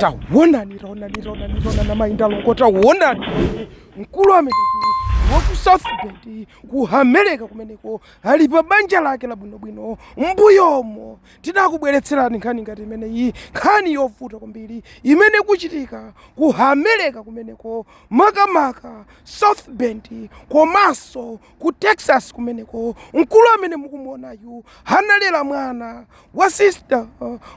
tawonani tawonani tawonani tawonani amayi ndi alongo tawonani mkulu amene wa ku south bend ku america kumeneko ali pa banja lake labwinobwino mbuyomo tinakubweretserani nkhani ngati imeneyi nkhani yovuta kwambiri imene ikuchitika ku america kumeneko makamaka south bend komanso ku texas kumeneko mkulu amene mukumuonayu analera mwana wa sister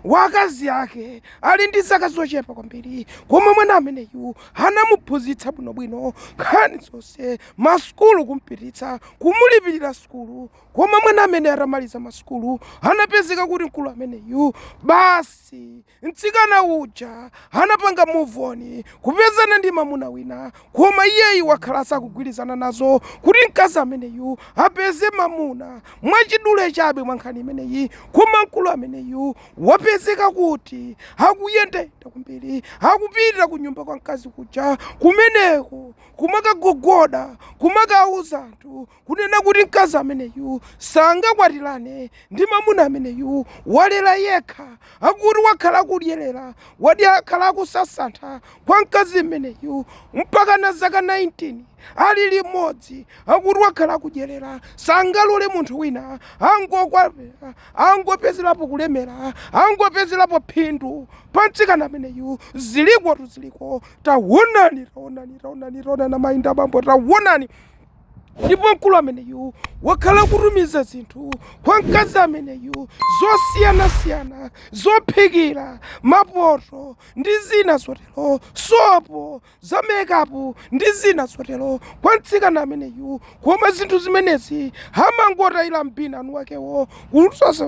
wa akazi ake ali ndi zaka zochepa kwambiri koma mwana ameneyu anamuphunzitsa bwinobwino nkhani zonse masukulu kumpititsa kumulipirira sukulu koma mwana amene atamaliza masukulu anapezeka kuti mkulu ameneyu basi Mtsikana uja anapanga move on kupezana ndi mamuna wina koma iyeyu wakhala sakugwirizana nazo kuti mkazi ameneyu apeze mamuna mwachidule chabe mwa nkhani imeneyi koma mkulu ameneyu wapezeka kuti akuyendayenda kwambiri akupita ku nyumba kwa mkazi kuja kumeneko kumakagogoda kumakauza anthu Kunena kuti mkazi ameneyu sangakwatirane ndi mamuna ameneyu walera yekha akuti wakhala akudyerera wadi akhala akusasantha kwa mkazi ameneyu mpaka na zaka 19 ali limodzi akuti wakhala akudyerera sangalole munthu wina angokwapera angopezerapo kulemera angopezerapo phindu pa mtsikana ameneyu zilikotu ziliko tawonani tawonani tawonani tawonani amayi ndi abambo tawonani ndipo mkulu ameneyu wakhala akutumiza zinthu kwa mkazi ameneyu zosiyanasiyana zophikira mapoto ndi zina zotero sopo za mekapu ndi zina zotero kwa mtsikana ameneyu koma zinthu zimenezi amangotayira mbini amuna akewo kusosa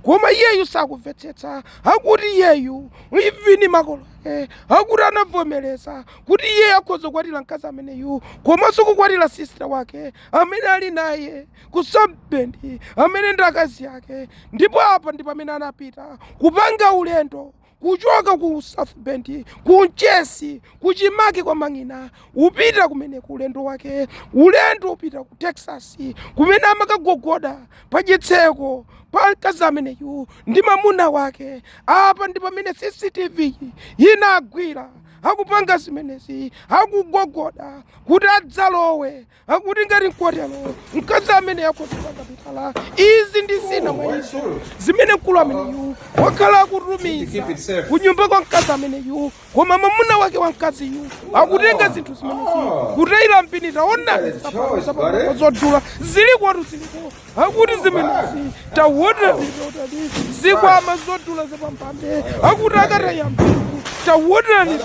koma iyeyu sakumvetsetsa akuti iyeyu ivini makolo ake akuti anavomereza kuti iye akhoza kukwatira mkazi ameneyu komanso kukwatira sisita wake amene ali naye ku South Bend amene ndi akazi ake ndipo apa ndi pamene anapita kupanga ulendo kuchoka ku South Bend ku Mchesi kuchimake kwa mang'ina wopita kumene ku ulendo wake ulendo wopita ku Texas kumene amakagogoda pa chitseko pa mkazi ameneyu ndi mamuna wake apa ndi pamene CCTV inagwira akupanga zimenezi akugogoda kuti adzalowe akuti ngati nkotero mkazi amene akotoka kapitala izi ndi zina mwa izo zimene mkulu ameneyu wakhala akutumiza kunyumba kwa mkazi ameneyu koma mamuna wake wa mkaziyu akutenga zinthu zimenezi kutayira mbini taonani zapapo zapapo zodula zilikotu ziliko akuti zimenezi tawonani tawonani zikwama zodula zapamwamba akuti akataya m'bini tawonani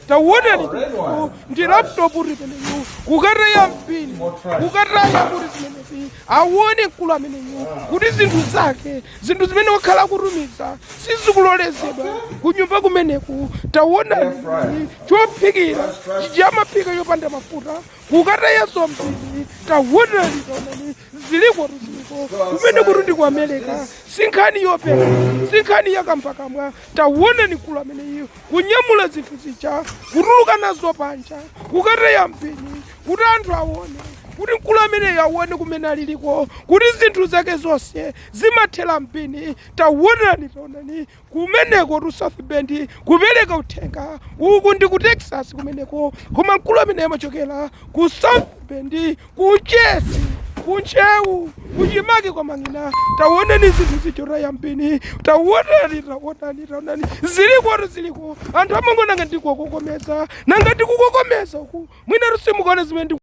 tawonani ndi laptop imeneyo kukataya m'bini kukataya kuti zimenezi awone mkulu ameneyu kuti zinthu zake zinthu zimene wakhala akutumiza sizikulolezedwa kunyumba kumeneku tawonani chophikira chamaphika yopanda mafuta kukatayaso m'bini tawonani tawonani zilikotu ziliko kumenekutu ndi ku america sinkhani yopeka sinkhani yankhambakamwa tawonani mkulu ameneyu kunyamula zinthu zija kutuluka nazo panja kukataya m'bini kuti anthu awone kuti mkulu ameneyo awone kumene aliliko kuti zinthu zake zonse zimathera m'bini tawonani tawonani Kumenekotu South Bend kupereka uthenga, uku ndi ku Texas kumeneko, koma mkulu ameneyo amachokera ku South Bend, ku Mchesi, ku Ntcheu, kuchimake kwa Mang'ina. Tawonani zinthu zija kutaya m'bini, tawonani, tawonani, tawonani, zilikotu ziliko, anthu amangoona ngati ndikukokomeza, nanga ndikukokomeza uku, mwinatu simukuona zimene ndi